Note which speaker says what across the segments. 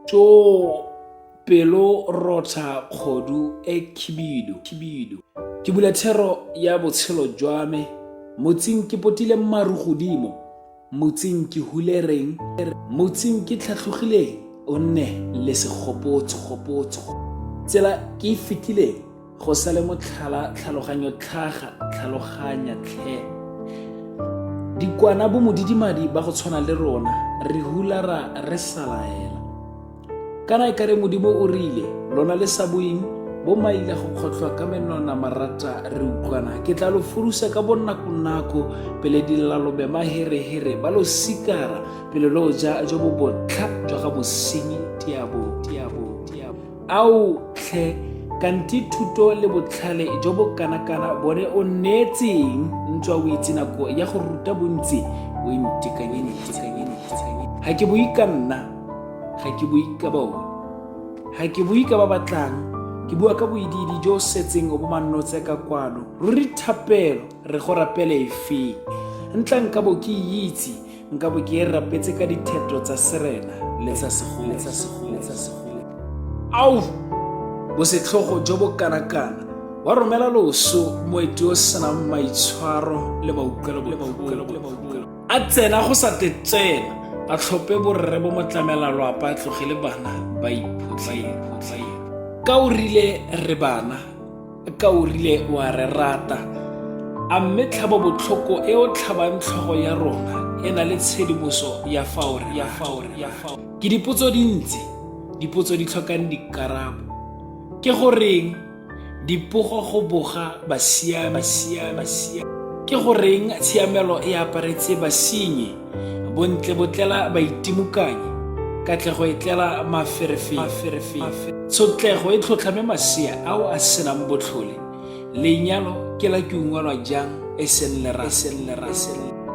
Speaker 1: tso pelo rotsha kgodu e khibidu khibidu ke bula thero ya botshelo jwa me motsing ke potile maru godimo Motsing ke hulereng? Motsing ke tlhatlhogileng? O nne le segopotso-gopotso. Tsela ke e fetileng go sa le motlhala tlhaloganyo tlhaga tlhaloganya tlhe. Dikwana bo modidimadi ba go tshwana le rona re hulara re salaela. kana e kare modimo o rile lona le sa boeng bo maile go kgotlhwa ka menwana marata re utlwana ke tla lo furusa ka bonnakonako pele dilalobe maherehere ba lo sikara pele lo ja jo bo botlha jwa ga mosenyi tiabo tiabo tiabo ao tlhe kanti thuto le botlhale jo bo kanakana bone o neetseng ntswa o itse nako ya go ruta bontsi o intekanyenitekanyenitekanyen ga ke boikanna ga ke bue ka bone ga ke bue ka ba batlang ke bua ka boidiidi jo o setseng o bo mannotse ka kwalo ruri thapelo re go rapele efeng ntla nka bo ke itse nka bo ke e rapetse ka dithetho tsa serena le tsa segolo ao bosetlhogo jo bo kanakana wa romela loso moeti o senang maitshwaro le mautlwelo a tsena go sa te tsena a tlhophe borre bo mo tlamela loapa a tloge le bana ba iphotlhaiphotlhae ka o rile re bana ka o rile wa re rata a mme tlhabo botlhoko e o tlhabang tlhogo ya rona e na le tshedimoso ya faore ya faore ya faore ke dipotso dintsi dipotso di tlhokang dikarabo ke goreng Dipogo go boga basiami. basiami, basiami. Ke go reng tshiamelo e aparetse basinyi, bontle botlela baitimukanyi, katlego e tlela maferefefe. Tshotlego e tlhotlhame masea ao a senang botlhole. Lenyalo ke la ke ungwelwa jang e seng lera.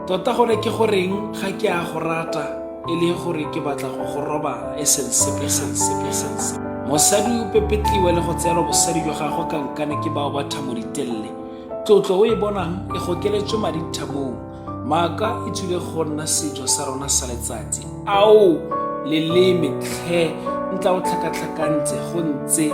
Speaker 1: Tota gone ke go reng ga ke a go rata. e le gore ke batla go go robala e seng sepe seng sepe seng sepe mosadi o pepetliwe le go tseelwa bosadi jwa gagwe ka nkane ke bao ba thamo ditelele tlotlo o e bonang e gokeletswe madi thamong maaka e tswile go nna sejo sa rona sa letsatsi ao leleme tlhe ntla o tlhakatlhakantse go ntse